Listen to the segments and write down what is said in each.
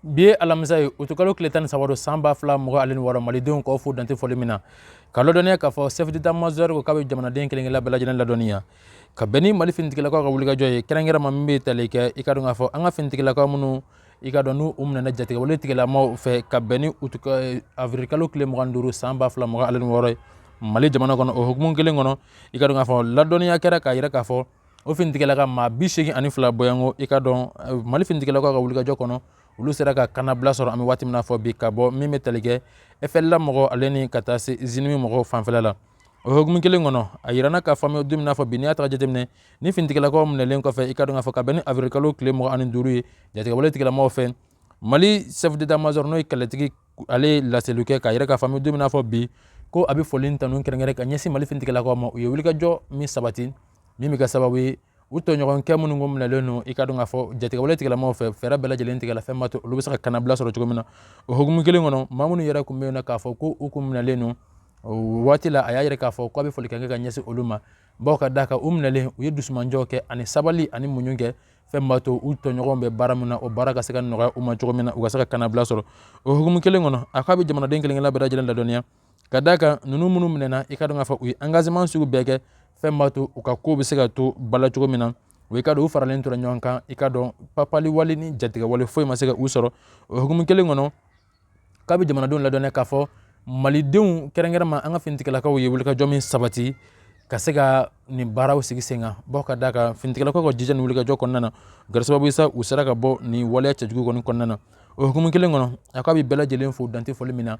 bi ye alamisa ye utukalo tile tan ni saba don san ba fila mugan ale ni wɔɔrɔ malidenw k'aw fo dante fɔli min na ka ladɔnniya k'a fɔ chef d'état major ko k'a bɛ jamanaden kelen-kelen bɛɛ lajɛlen ladɔnniya ka bɛn ni mali finitigilakaw ka wulikajɔ ye kɛrɛnkɛrɛnma min bɛ tali kɛ i ka dɔn k'a fɔ an ka finitigilakaw minnu i ka dɔn n'u u minɛna jatigɛwale tigilamaw fɛ ka bɛn ni eh, avirikalo tile mugan duuru san ba fila mugan ale ni wɔɔrɔ ye mali jamana kɔnɔ o hukumu kelen kɔnɔ i ka dɔn k'a fɔ ladɔnniya kɛra k'a yira k'a fɔ o finitigilaka maa bi seegin ani fila bɔyanko i ka dɔn eh, mali finitigilakaw ka wulikajɔ kɔnɔ olu sera ka kannabila sɔrɔ an bɛ waati min na fɔ bi ka bɔ min bɛ tali kɛ FLA mɔgɔw ale ni ka taa se JNIM mɔgɔw fanfɛla la o hukumu kelen kɔnɔ a yiranna k'a fɔ an bɛ don min na fɔ bi n'i y'a ta k'a jateminɛ ni finitigilakaw minɛlen kɔfɛ i ka dɔn k'a fɔ ka bɛn ni avirikalo tile mugan ani duuru ye jatigɛwale tigilamɔgɔw fɛ mali chef d'état major n'o ye kɛlɛtigi ale ye laseliw kɛ k'a yira k'a fɔ an bɛ don min na fɔ bi ko a bɛ foli tanu kɛrɛnkɛrɛn ka ɲɛsin mali finitigilakaw ma u ye wulikajɔ min sabati min bɛ kɛ sababu ye u tɔɲɔgɔnkɛ minnu kun minɛlen don i ka dɔn k'a fɔ jatigɛwale tigilamaw fɛ fɛɛrɛ bɛɛ lajɛlen tigɛla fɛn b'a to olu bɛ se ka kannabila sɔrɔ cogo min na o hukumu kelen kɔnɔ maa minnu yɛrɛ tun bɛ yen na k'a fɔ ko u kun minɛlen don o waati la a y'a yira k'a fɔ k'a bɛ foli kɛ ka ɲɛsin olu ma bawo ka d'a kan u minɛlen u ye dusumanjɔ kɛ ani sabali ani muɲu kɛ fɛn b'a to u tɔɲɔgɔnw bɛ baara min na o baara ka se ka nɔgɔya u ma cogo min na u ka se ka kannabila sɔrɔ o hukumu kelen kɔnɔ a k'a bɛ jamanaden kelen-kelen bɛɛ lajɛlen ladɔnniya ka d'a kan ninnu minnu minɛna i ka dɔn k'a fɔ u ye engagement sugu bɛɛ kɛ fɛn b'a to u ka ko bɛ se ka to bala cogo min na o i ka dɔn u faralen tora ɲɔgɔn kan i ka dɔn papali wale ni jatigɛwale foyi ma se ka u sɔrɔ o hukumu kelen kɔnɔ k'a bɛ jamanadenw ladɔnniya k'a fɔ malidenw kɛrɛnkɛrɛnma an ka finitigilakaw ye wulikajɔ min sabati ka se ka nin baaraw sigi sen kan bawo ka d'a kan finitigilakaw ka jija ni wulikajɔ kɔnɔna na kɛra sababu sa u sera ka bɔ nin waleya cɛjugu kɔni kɔnɔna na o hukumu kelen kɔnɔ a k'a bɛ bɛɛ lajɛlen fo dante fɔli min na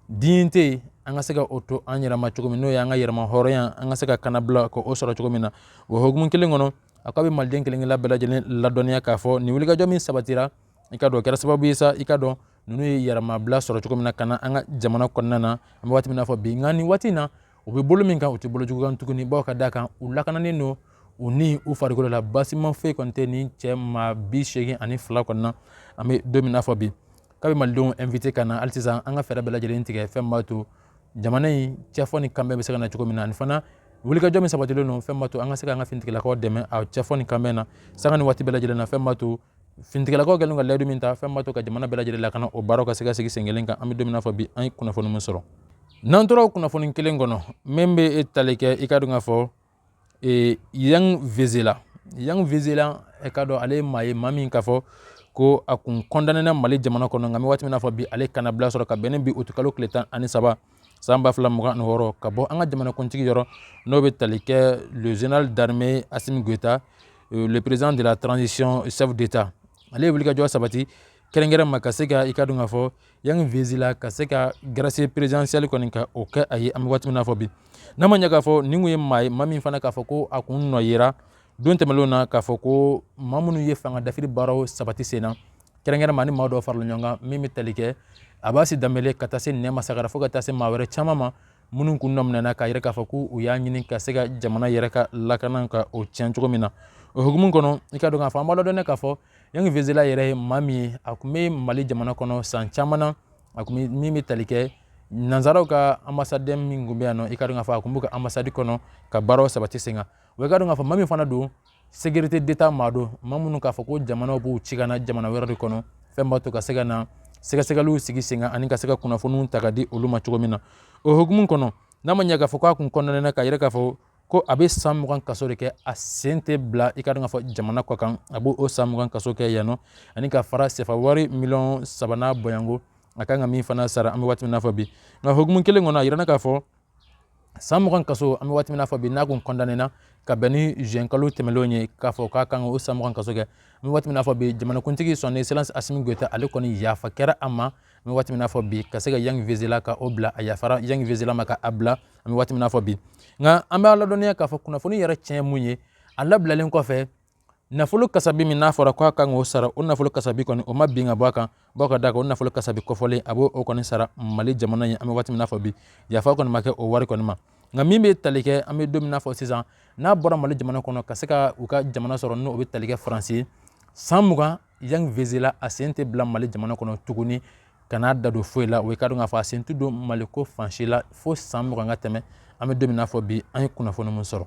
dignité an ka se ka o to an yɛrɛma cogo min n'o ye an ka yɛrɛma hɔrɔnya an ka se ka kannabila ka o sɔrɔ cogo min na o hukumu kelen kɔnɔ a k'a bɛ maliden kelen kelen bɛɛ lajɛlen ladɔnniya k'a fɔ nin wulikajɔ min sabatira i ka dɔn kɛra sababu ye sa i ka dɔn ninnu ye yɛrɛmabila sɔrɔ cogo min na ka na an ka jamana kɔnɔna na an bɛ waati min na fɔ bi nka nin waati in na u bɛ bolo min kan u tɛ bolo jugu kan tuguni bawo ka d'a kan u lakananen don u ni u farikolo la baasima foyi kɔni tɛ nin cɛ maa bi seegin ani fila kɔni na an bɛ don min na fɔ bi k'a bɛ malidenw invité ka na hali sisan an ka fɛɛrɛ bɛɛ lajɛlen tigɛ fɛn b'a to jamana in cɛfɔ ni kanbɛn bɛ se ka na cogo min na ani fana wulikajɔ min sabatilen don fɛn b'a to an ka se ka an ka finitigilakaw dɛmɛ a cɛfɔ ni kanbɛn na sanga ni waati bɛɛ lajɛlen na fɛn b'a to finitigilakaw kɛlen ka layidu min ta fɛn b'a to ka jamana bɛɛ lajɛlen lakana o baaraw ka se ka sigi sen kelen kan an bɛ don min na fɔ bi an ye kunnafoni min sɔrɔ n'an tora o kunnafoni kelen kɔnɔ min bɛ e tali kɛ i ka dɔn k'a fɔ ee yann vezilier yann vezilier i ka dɔn ale ye maa ye maa min k'a fɔ ko a kun condamnéna mali jamana kɔnɔ nka an bɛ waati min na fɔ bi ale kannabila sɔrɔ ka bɛn ni bi utukalo tile tan ani saba san ba fila mugan ani wɔɔrɔ ka bɔ an ka jamanakuntigi yɔrɔ n'o bɛ tali kɛ le général d'armée assimi goïta euh, le président de la transition chef d'état ale ye wulikajɔ sabati kɛrɛnkɛrɛnma ka se ka i ka dɔn k'a fɔ yann vezilier ka se ka grâce présidentielle kɔni ka o kɛ a ye an bɛ waati min na fɔ bi n'a ma ɲɛ k'a fɔ nin kun ye maa ye maa min fana k'a fɔ ko a kun nɔ yera don tɛmɛnlenw na k'a fɔ ko maa minnu ye fanga dafiri baaraw sabati sen na kɛrɛnkɛrɛnma ni maa dɔw farala ɲɔgɔn kan min bɛ tali kɛ abasi danbele ka taa se nɛma sagara fo ka taa se maa wɛrɛ caman ma minnu kun nɔ minɛna k'a yira k'a fɔ ko u y'a ɲini ka se ka jamana yɛrɛ ka lakana ka o tiɲɛ cogo min na o hukumu kɔnɔ i ka dɔn k'a fɔ an b'a ladɔnniya k'a fɔ yann vezilier yɛrɛ ye maa min ye a kun bɛ mali jamana kɔnɔ san caman na a kun bɛ min bɛ tali kɛ nanzaraw ka anbasadi min kun bɛ yan nɔ i ka dɔn k'a fɔ a kun b'u ka anbasadi kɔnɔ ka baaraw sabati sen kan wa i ka dɔn k'a fɔ maa min fana don sécurité d'état maa don maa minnu k'a fɔ ko jamanaw b'u ci ka na jamana wɛrɛ de kɔnɔ fɛn b'a to ka se ka na sɛgɛsɛgɛliw sigi sen kan ani ka se ka kunnafoniw ta ka di olu ma cogo min na o hukumu kɔnɔ n'a ma ɲɛ k'a fɔ k'a kun kɔndanena k'a yira k'a fɔ ko a bɛ san mugan kaso de kɛ a sen tɛ bila i ka dɔn k'a fɔ jamana kɔkan a b'o san mugan kaso kɛ yan nɔ ani ka fara sefa wari miliyɔn saba n'a bɔɲɔgɔnko a kan ka min fana sara an bɛ waati min na fɔ bi nka hukumu kelen kɔnɔ a yirana k'a fɔ san mugan kaso an bɛ waati min na fɔ bi n'a kun kɔndanena ka bɛn ni juin kalo tɛmɛnlenw ye k'a fɔ k'a kan ka o san mugan kaso kɛ an bɛ waati min na fɔ bi jamanakuntigi son excellence asimi goyita ale kɔni yafa kɛra a ma an bɛ waati min na fɔ bi ka se ka yann vezilier ka o bila a yafara yann vezilier ma ka a bila an bɛ waati min na fɔ bi nka an b'a ladɔnniya k'a fɔ kunnafoni yɛrɛ tiɲɛ mun ye a labilalen kɔfɛ nafolo kasabi min n'a fɔra k'a kan k'o sara o nafolo kasabi kɔni o ma bin ka bɔ a kan bawo ka d'a kan o nafolo kasabi kɔfɔlen a b'o kɔni sara mali jamana ye an bɛ waati min na fɔ bi yafa kɔni ma kɛ o wari kɔni ma nka min bɛ tali kɛ an bɛ don min na fɔ sisan n'a bɔra mali jamana kɔnɔ ka se ka u ka jamana sɔrɔ n'o bɛ tali kɛ faransi san mugan Yann Vezilier a sen tɛ bila Mali jamana kɔnɔ tuguni ka n'a da don foyi la o ye ka dɔn k'a fɔ a sen tɛ don Maliko fan si la fo san mugan ka tɛmɛ an bɛ don min na fɔ bi an ye kunnafoni min sɔrɔ